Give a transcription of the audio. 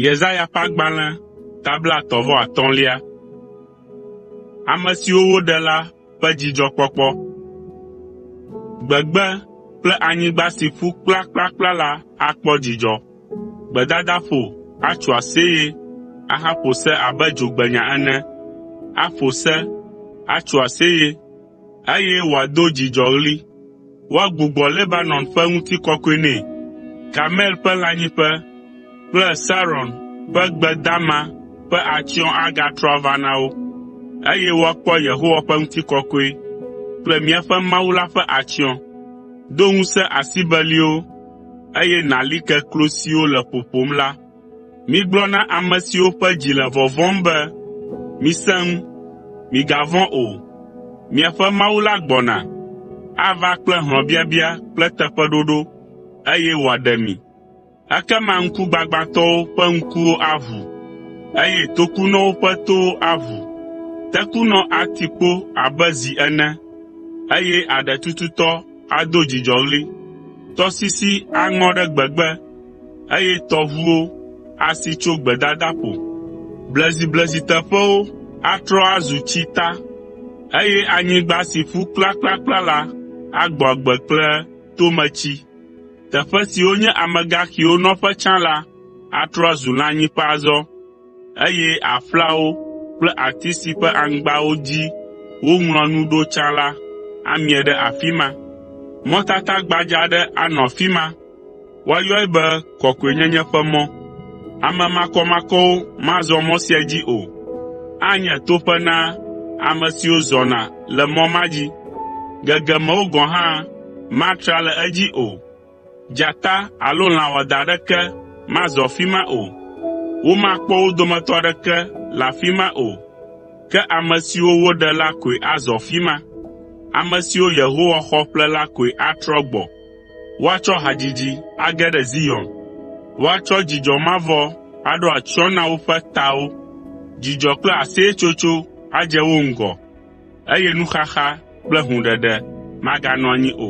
Yesaya ƒe agbalẽ ta blaetɔ̃ vɔ atɔ̃lia. Ame siwo woɖe la ƒe dzidzɔkpɔkpɔ. Gbegbe kple anyigba si ƒu kplakplakpla la akpɔ dzidzɔ. Gbedadaƒo atso aseye ahaƒo se abe dzogbenya ene. Aƒo se, atso aseye eye wòado dzidzɔɣli. Woagbugbɔ Lebanon ƒe ŋutikɔkɔe nɛ, Karmel ƒe lãnyiƒe kple Saron ƒe gbe dama ƒe atsyɔ̃ agatrɔ ava na wo, eye woakpɔ Yehowa ƒe ŋutikɔkɔe kple míaƒe Mawu la ƒe atsyɔ̃. Do ŋusẽ asibeliwo, eye nàli ke klo siwo le ƒoƒom la. “Migblɔ na ame siwo ƒe dzi le vɔvɔ̃m be, ‘Misẽ ŋu, migavɔ̃ o. Miaƒe Mawu la gbɔna. Ava kple hlɔ̃biabia kple teƒeɖoɖo, eye wòaɖe mi.’ Ekema ŋkugbagbãtɔwo ƒe ŋkuwo aʋu, eye tokunɔwo ƒe towo aʋu. Tekunɔ ati kpo abe zi ene, eye aɖe tututɔ ado dzidzɔɣli. Tɔsisi aŋɔ ɖe gbegbe, eye tɔʋuwo asi tso gbedadaƒo. Blezibleziteƒewo atrɔ azu tsita, eye anyigba si ƒu kplakplakpla la agbɔ agbe kple tometsi. Teƒe siwo nye amegaxiwo nɔƒe tsã la atrɔ azu lãnyiƒe azɔ. eye aƒlawo kple ati si ƒe aŋgbawo dzi woŋlɔa nu ɖo tsã la amie ɖe afi ma. Mɔtata gbadza aɖe anɔ afi ma, woayɔe be Kɔkɔenyenye Ƒe Mɔ. Ame makɔmakɔwo mazɔ mɔ sia dzi o. Anye toƒe na ame siwo zɔna le mɔ ma dzi. Gegemewò gɔ̃ hã matra le edzi o. Dzata alo lã wɔadã aɖeke mazɔ afi ma o. Womakpɔ wo dometɔ aɖeke le afi ma o. Ke ame siwo woɖe la koe azɔ afi ma. Ame siwo Yehowa xɔ ƒle la koe atrɔ gbɔ. Woatsɔ hadzidzi age ɖe Zion. Woatsɔ dzidzɔ mavɔ aɖo atsyɔ̃ na woƒe tawo. Dzidzɔ kple aseyetsotso adze wo ŋgɔ. eye nuxaxa kple hũɖeɖe maganɔ anyi o.